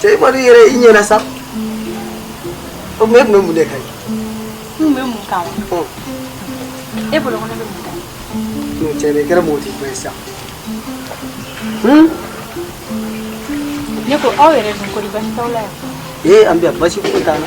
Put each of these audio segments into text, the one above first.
cɛ i kɔni yɛrɛ i ɲɛna sa o tuma e tun bɛ mun de kan yen. n tun bɛ mun kan wa. e bolo ko ne bɛ mun kan yen. n'o cɛ de kɛra mɔgɔ t'i fɛ sa. ne ko aw yɛrɛ dun kɔni basi t'aw la yan. ee an bɛ yan basi foyi t'an na.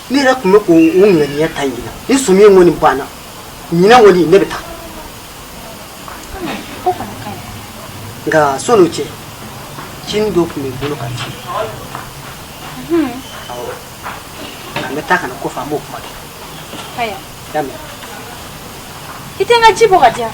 ne yɛrɛ tun bɛ k'o o ŋaniya ta ɲinan ni sɔmi in kɔni banna ɲinan kɔni ne bɛ taa nka sɔni o cɛ cinin dɔ tun bɛ n bolo ka ci awɔ nka n bɛ taa ka na kɔfɛ an b'o kuma kɛ y'a mɛn i tɛ n ka ji bɔ ka di yan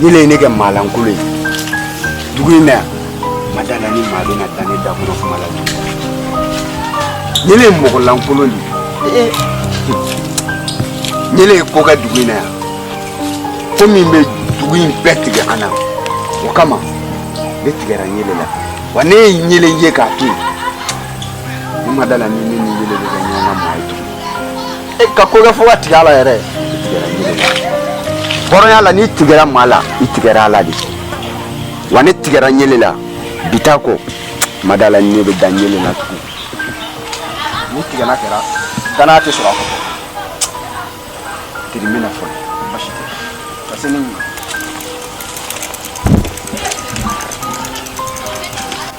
ɲele ye ne kɛ maalankolon ye dugu in na yan ma da la ni maa bɛna da ne da kɔnɔ kuma la tugun ɲele ye mɔgɔlankolon de ye ɲele ye ko kɛ dugu in na yan ko min bɛ dugu in bɛɛ tigɛ an na o kama ne tigɛra ɲele la wa ne ye ɲele ye k'a to yen ne ma da la ni ne ni ɲele bɛ kɛ ɲɔgɔn ka maa ye tugun e ka ko kɛ fo ka tigɛ a la yɛrɛ hɔrɔnya la n'i tigɛra maa la i tigɛra a la de wa ne tigɛra ɲele la bi taa kɔ ma da la ne bɛ da ɲele la tugun ni tigɛna kɛra danaya tɛ sɔrɔ a kɔfɛ tiri mena fɔlɔ basi tɛ ka se ne ɲɛ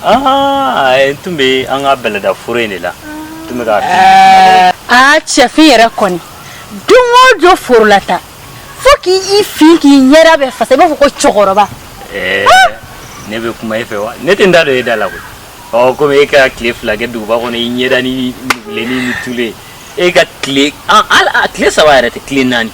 Aa n tun bɛ an ka bɛlɛda foro in de la tun bɛ aa cɛfin yɛrɛ kɔni don o jɔ foro la taa fo k' i fin k'i ɲɛda bɛɛ fasa i b'a fɔ ko cɛkɔrɔba ne bɛ kuma e fɛ wa ne tɛ n da don e da la koyi komi e ka tile fila kɛ duguba kɔnɔ i ɲɛda nugulen ni tulu e ka tile saba yɛrɛ tɛ tile naani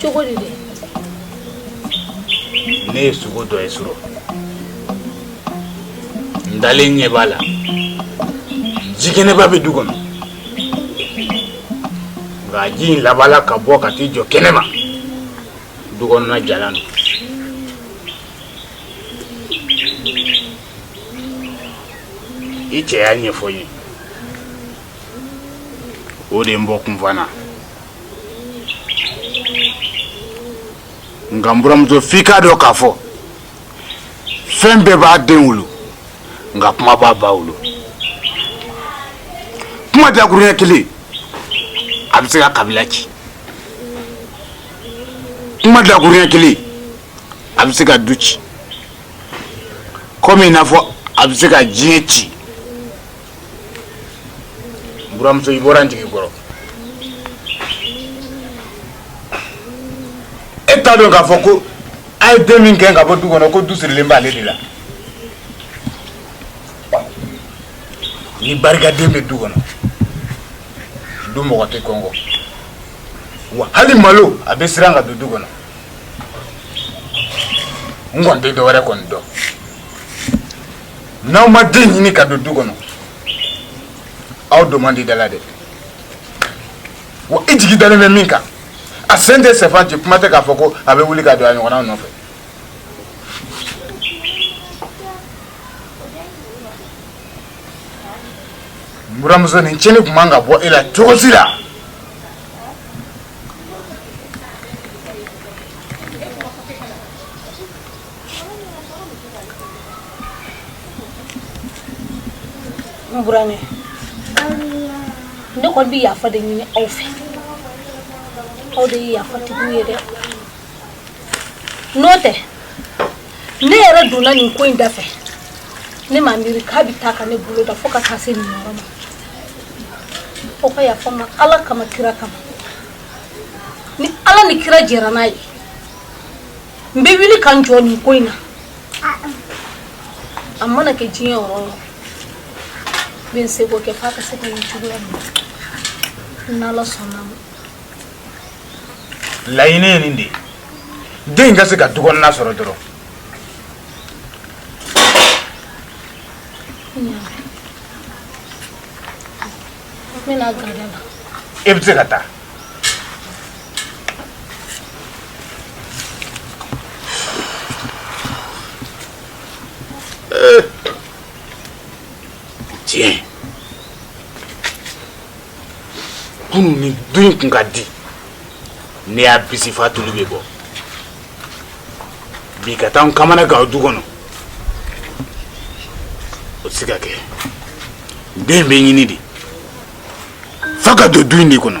cogo di de ne ye sugo dɔ ye su rɔ n dalen ɲɛ b'a la jikɛnɛba bɛ du kɔnɔ nka ji in labanna ka bɔ ka t'i jɔ kɛnɛ ma du kɔnɔna jalan don i cɛ y'a ɲɛfɔ n ye o de ye n bɔ kunfan na nka n buramuso f'i k'a dɔn k'a fɔ fɛn bɛɛ b'a den wolo nka kuma b'a ba wolo kuma dakuruɲɛ kelen a bɛ se ka kabila ci kuma dakuruɲɛ kelen a bɛ se ka du ci kɔmi i n'a fɔ a bɛ se ka diɲɛ ci n buramuso i bɔra n jigi kɔrɔ e t'a dɔn k'a fɔ ko a ye den min gɛn ka bɔ du kɔnɔ ko du sirilen b'ale de la ni barikaden bɛ du kɔnɔ du mɔgɔ tɛ kɔngɔ wa hali malo a bɛ siran ka don du kɔnɔ n kɔni tɛ dɔwɛrɛ kɔni dɔn n'aw ma den ɲini ka don du kɔnɔ aw don man di da la dɛ wa i jigi dalen bɛ min kan a sen tɛ sɛfan ci kuma tɛ k'a fɔ ko a bɛ wuli ka don a ɲɔgɔnnaw nɔfɛ buramuso nin cɛnni tun man ka bɔ e la cogo si la N burankɛ ne kɔni bɛ yafa de ɲini aw fɛ aw de ye yafa tigiw ye dɛ n'o tɛ ne yɛrɛ donna nin ko in da fɛ ne ma miiri k'a bɛ taa ka ne bolo dan fo ka taa se nin yɔrɔ ma aw ka yafa n ma ala kama kira kama ni ala ni kira jɛra n'a ye n bɛ wuli ka n jɔ nin ko in na a mana kɛ diɲɛ yɔrɔ o yɔrɔ n bɛ n seko kɛ f'a ka se ka ye cogoya min na n'ala sɔnn'a ma laɲini ye nin de ye den ka se ka dukɔnɔna sɔrɔ dɔrɔn e bɛ se ka taa kunun nin du in kun ka di ne y'a bisi f'a tulu bɛ bɔ bi ka taa n kamanagan o du kɔnɔ o tɛ se ka kɛ den bɛ ɲini de f'a ka don du in de kɔnɔ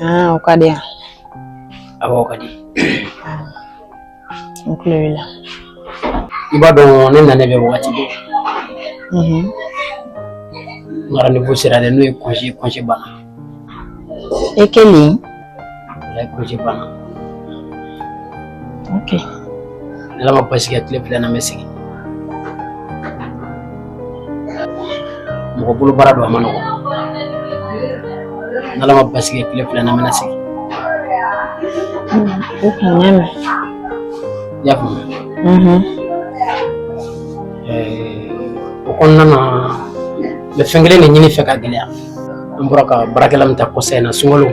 Ah, o ka di yan. Awɔ, o ka di. N tulo b'i la. I b'a dɔn ne nalen bɛ wagati bɛɛ. Mhm. N ka rendez-vous sera dɛ, n'o ye congé ye, congé banna. E kelen? Walayi congé banna. Ok. Ala ma baasi kɛ tile fila na n bɛ segin mɔgɔ bolo baara don a man nɔgɔn n'ala ma baasi kɛ tile fila na n bɛ segin o kun ɲɛ mɛn i y'a faamuya o kɔnɔna na n bɛ fɛn kelen de ɲini i fɛ ka gɛlɛya an bɔra ka baarakɛla min ta kɔsa in na sunkalo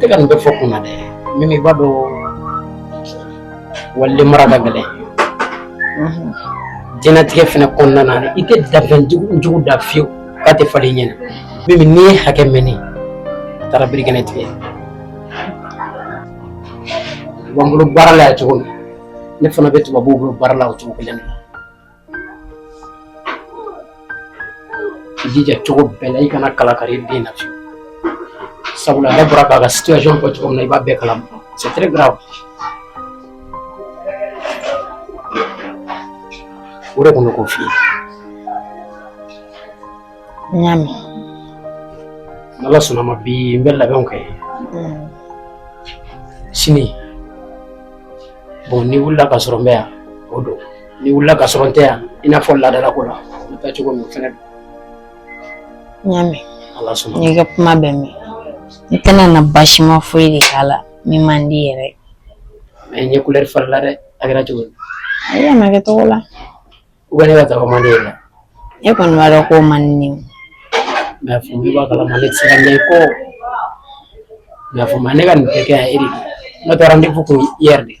tɛ ka nin bɛɛ fɔ kun na dɛ min i b'a dɔn waliden mara ka gɛlɛn diɲɛnatigɛ fana kɔnɔna na i tɛ danfɛn jugu dan fiyewu k'a tɛ falen i ɲɛ na mɛ n'i ye hakɛ mɛnni a taara birikɛnɛ tigɛ b'an bolo baara la yan cogo min ne fana bɛ tubabuw bolo baara la o cogo kelen na I jija cogo bɛɛ la i kana kala kari den na fiyewu sabula a yɛrɛ bɔra k'a ka situation fɔ cogo min na i b'a bɛɛ kalama c'est très grave o de tun bɛ k'o f'i ye n y'a mɛn n'ala sɔnna a ma bi n bɛ labɛnw kɛ sini bon n'i wulila k'a sɔrɔ n bɛ yan o don N'i wulila k'a sɔrɔ n tɛ yan i n'a fɔ laadala ko la n taa cogo min fana n y'a mɛn ala sɔnna n y'i ka kuma bɛɛ mɛn n tɛna na baasi ma foyi de k'a la min man di i ye mɛ i ɲɛ kulɛri falenna dɛ a kɛra cogo di ayi a ma kɛ cogo la u bɛ ne ka taga man di i ye e kɔni b'a dɔn k'o man di ne ye mɛ a fɔ ne b'a kalama ne tɛ se ka ɲɛ i kɔ mɛ a fɔ ma ne ka nin bɛɛ kɛ yan e de don n'o tɛ rendez-vous kun i yɛrɛ de ye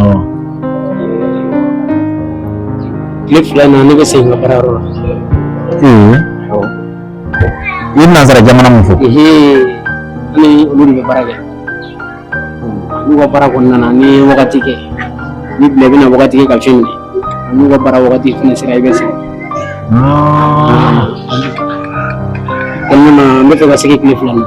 Oo. Tile fila in na ne bɛ segin n ka baara yɔrɔ la. Ee. Awɔ. I ye nansara jamana min fɔ. Ni olu de bɛ baara kɛ. N'u ka baara kɔnɔna na n'i ye wagati kɛ n'i bilala i bɛna wagati kɛ i ka famille na n'u ka baara wagati fana sera i bɛ segin. Kɔnɔna na n b'a fɛ ka segin tile fila in na.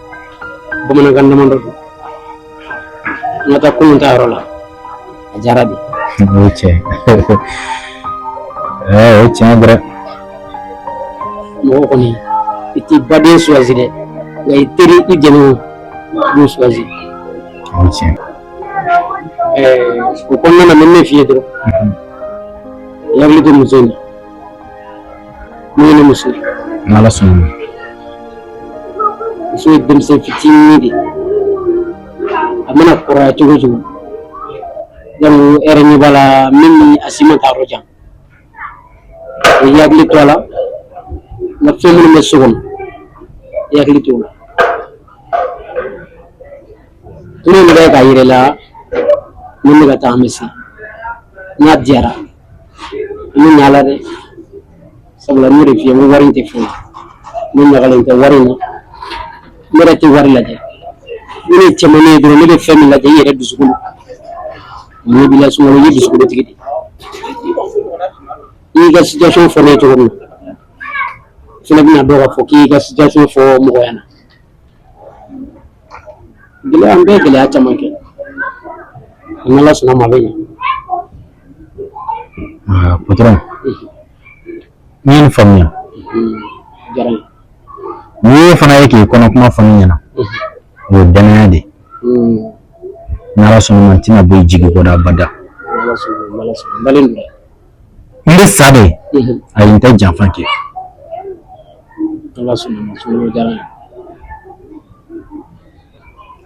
bamanankan damadɔ don an ka taa kunun ta yɔrɔ la a diyara bi o ye tiɲɛ o ye tiɲɛ dɔrɔn mɔgɔ kɔni i t'i baden suwazi dɛ nka i teri i jɛɲɔgɔn i b'o suwazi o ye tiɲɛ o kɔnɔna na n bɛ min f'i ye dɔrɔn i hakili to muso in na Ni ne muso ye. N'Ala sɔnna ma. Muso ye denmisɛn fitinin de ye. A mana kɔrɔya cogo o cogo yani e yɛrɛ ɲɛ b'a la min ni a si ma taa yɔrɔ jan. I b'i hakili to a la nka fɛn minnu bɛ so kɔnɔ i hakili t'o la. Tulu in bɛ kɛ k'a jira i la ni n bɛ ka taa an bɛ se n'a diyara. ne ɲala dɛ sabula ne de f'i ye ko wari in tɛ foyi ne ɲagalen tɛ wari in na ne yɛrɛ tɛ wari lajɛ ne ye cɛman ne ye dɔrɔn ne bɛ fɛn min lajɛ i yɛrɛ dusukun ne b'i lasuma i ye dusukuntigi de i y'i ka situation fɔ ne ye cogo min na fana bɛna dɔn k'a fɔ k'i y'i ka situation fɔ mɔgɔ ɲɛna gɛlɛya an bɛɛ ye gɛlɛya caman kɛ n'ala sɔnna ma a bɛ ɲɛ Ah, patron n ye nin faamuya a diyara n ye n'i ye fana ye k'i kɔnɔ kuma fɔ ne ɲɛna o ye dannaya de ye Mm, n'ala sɔnna ma n tɛna bɔ i jigi kɔrɔ abada n'ala sɔnna ma, n'ala sɔnna ma. N dalen don dɛ. n bɛ sa de ayi n tɛ janfa kɛ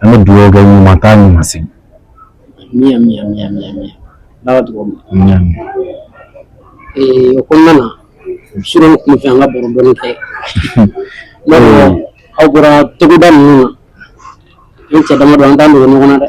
an bɛ dugawu kɛ ɲuman taa ɲuman segin o kɔnɔna na surɔ n tun fɛ an ka baro dɔɔni kɛ aw bɔra togoda ninnu na an cɛ dama don an t'an dogo ɲɔgɔn na dɛ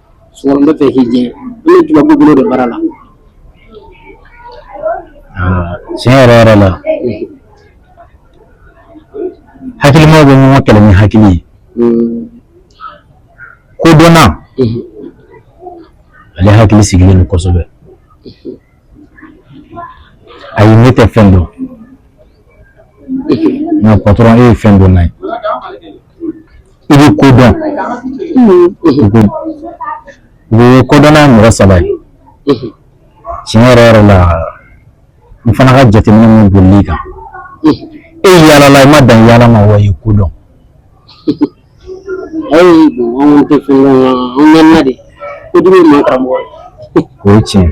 Bɛ fɛ k'i diɲɛ i ye jumɛn bolo de baara la tiɲɛ yɛrɛ yɛrɛ la hakilima bɛ mɔgɔ kɛlɛ ni hakili ye kodɔnna ale hakili sigilen kosɛbɛ ayi ne tɛ fɛn dɔn nka patɔrɔn e ye fɛndɔnna ye i bɛ ko dɔn kodɔnna ye mɔgɔ saba ye tiɲɛ yɛrɛ yɛrɛ la n fana ka jateminɛ min bolila i kan e yaalala i ma dan yaala ma wa i ye ko dɔn ayi anw tɛ fɛn dɔn an mɛnna de ko dimi ma karamɔgɔ o ye tiɲɛ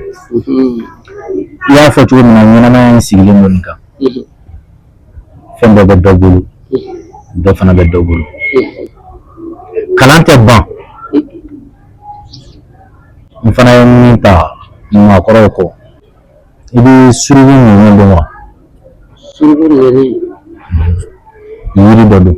i y'a fɔ cogo min na ɲɛnamaya in sigilen don nin kan fɛn dɔ bɛ dɔ bolo dɔ fana bɛ dɔ bolo kalan tɛ ban n fana ye min ta maakɔrɔw kɔ i bɛ suruku ninnu dɔn wa suruku ninnu yiri dɔ don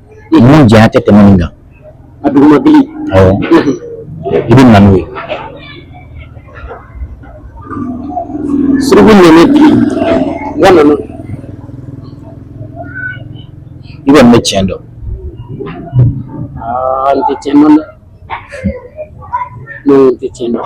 Mun diya tɛ tɛmɛ min kan a duguma bi i bɛ na n'o ye suruku nana bi wa nana i bɛ ne tiɲɛ dɔn n tɛ tiɲɛ dɔn dɛ ne tɛ tiɲɛ dɔn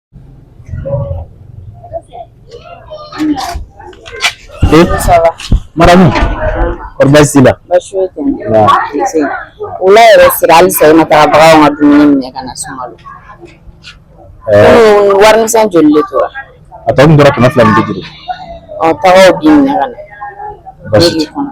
maramu kɔri baasi t'i la baasi foyi tɛ ne la wula yɛrɛ sera halisa i ma taga baganw ka dumuni minɛ ka na sunkalo komi warimisɛn joli de tora a tɔ min tora kɛmɛ fila ni bi duuru ɔ taga o bin minɛ ka na baasi tɛ kɔnɔ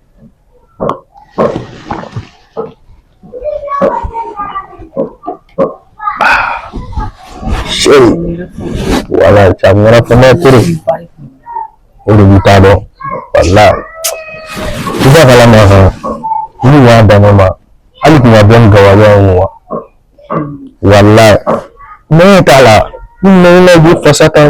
சரி wala camera fana tiri o de b'i ta dɔn wala i ka kalan ma kan ni y'a dama ma hali kun ka bɔ ni gawale ye wa wala ne t'a la ni ne bɛ fasa kan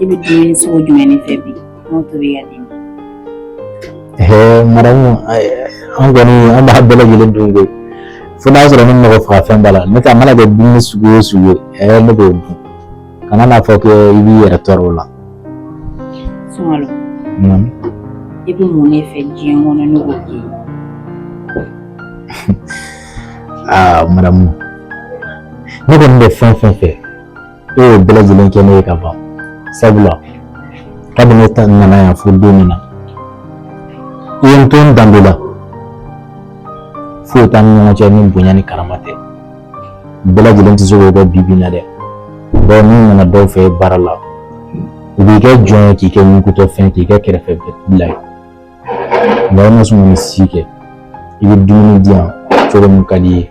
I bɛ dumuni sugu jumɛn de fɛ bi n'o tobi ka di maramu an kɔni an b'a bɛɛ lajɛlen dun koyi fo n'a sɔrɔ ni mɔgɔ faga fɛn b'a la nka a mana kɛ dumuni sugu o sugu ye ɛɛ ne b'o dun kana n'a fɔ ko i b'i yɛrɛ tɔɔrɔ o la sunkalo i bɛ mun de fɛ diɲɛ kɔnɔ ne k'o k'i aa maramu ne kɔni bɛ fɛn fɛn fɛ e y'o bɛɛ lajɛlen kɛ ne ye ka ban sabula kabini ne nana yan fo don min na i ye n to n danbe la foyi t'an ni ɲɔgɔn cɛ ni bonya ni karama tɛ bɛɛ lajɛlen tɛ se k'o kɛ bi bi in na dɛ dɔw n'i nana dɔw fɛ baara la u b'i kɛ jɔn ye k'i kɛ ɲugutɔ fɛn k'i kɛ kɛrɛfɛ bila ye nka i ma sɔn ka nin si kɛ i bɛ dumuni di yan cogo min ka di i ye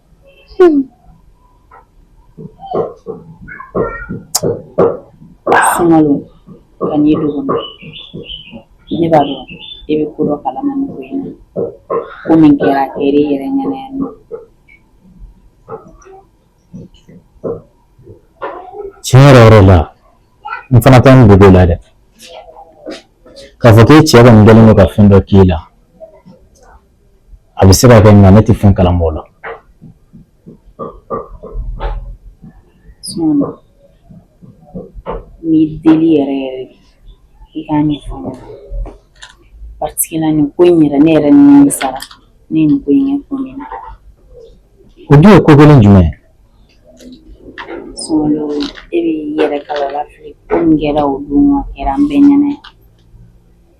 Sunkalo kan'i dogo ne b'a dɔn e bɛ ko dɔ kalama nin ko in na ko min kɛra a kɛra e yɛrɛ ɲɛna yan nɔ tiɲɛ yɛrɛ yɛrɛ la n fana tɛ nin dogo i la dɛ k'a fɔ k'e cɛ kɔni kɛlen don ka fɛn dɔ k'i la a bɛ se ka kɛ nka ne tɛ fɛn kalama o ko la n b'i deli yɛrɛ yɛrɛ i ka nin ko in yɛrɛ ne yɛrɛ nimisara ne nin ko in ko min na o dun ye ko gɛlɛn jumɛn e bɛ yɛrɛ kalala fili ko min kɛra o dun kɛra an bɛɛ ɲɛna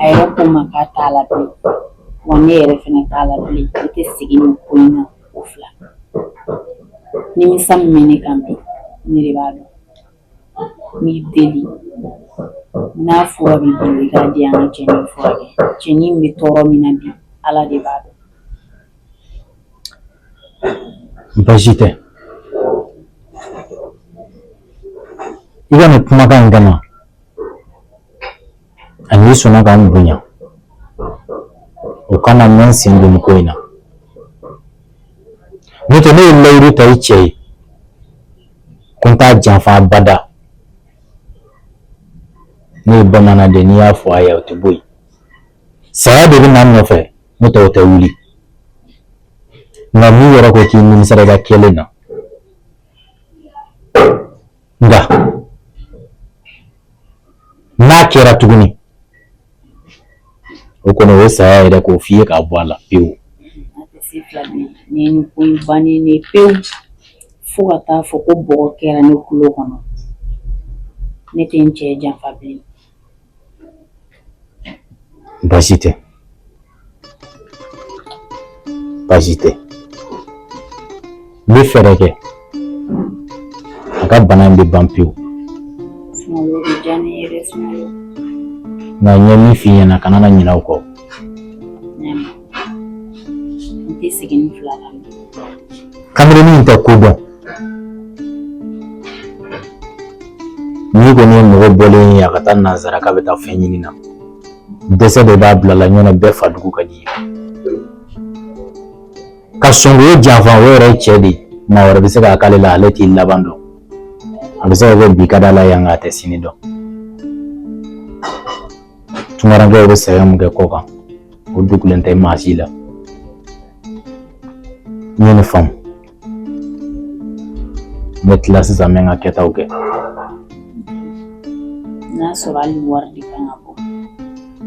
A yɛrɛ ko n ma k'a t'a la bilen, wa ne yɛrɛ fana t'a la bilen, ne tɛ segin nin ko in na ko fila, nimisa min bɛ ne kan bi, ne de b'a dɔn, n b'i deli n'a fura b'i bolo i k'a di yan n ka cɛnin in furakɛ, cɛnin in bɛ tɔɔrɔ min na bi Ala de b'a dɔn. Baasi tɛ i ka nin kumakan in kama ani e sɔnna ka n bonya o kama n bɛ n sen don ko in na n'o tɛ ne ye layidu ta i cɛ ye ko n t'a janfa abada ne ye bamanan de ni n y'a fɔ a ye o tɛ bɔ yen saya de bɛ na n nɔfɛ n'o tɛ o tɛ wuli nka n'i yɛrɛ ko k'i nimisara i ka kɛlen na nka n'a kɛra tuguni o kɔni o ye saya yɛrɛ k'o f'i ye k'a bɔ a la pewu nin ko in bannen ne pewu fo ka taa fɔ ko bɔgɔ kɛra ne kulo kɔnɔ ne tɛ n cɛ janfa bilen baasi tɛ baasi tɛ n bɛ fɛɛrɛ kɛ a ka bana in bɛ ban pewu nka n ye min f'i ɲɛna kana na ɲinɛ o kɔ n tɛ segin ni fila la kamalennin in tɛ ko dɔn n'i kɔni ye mɔgɔ bɔlen ye a ka taa nanzara k'a bɛ taa fɛn ɲini na dɛsɛ de b'a bila a la n'o tɛ bɛɛ fa dugu ka d'i ye ka sɔn k'o janfa o yɛrɛ ye cɛ de ye maa wɛrɛ bɛ se k'a k'ale la ale t'i laban dɔn a bɛ se ka kɛ bi ka d'a la yan nka a tɛ sini dɔn tungarankew bɛ sɛgɛn min kɛ kɔkan o dogolen tɛ maa si la n ye nin faamu n bɛ tila sisan n bɛ n ka kɛtaw kɛ n'a sɔrɔ hali wari de kan ka bɔ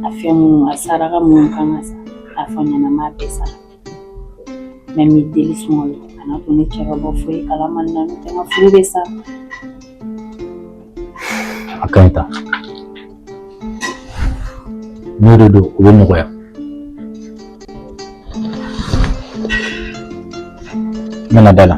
a fɛn minnu a saraka minnu kan ka sa a fɔ n ɲɛna n b'a bɛɛ sara mɛ n b'i deli sɔngɔ ye kana to ne cɛ ka bɔ foyi kalama nɔntɛ n ka furu bɛ sa a ka ɲi ta n'o de don o bɛ nɔgɔya n bɛna da la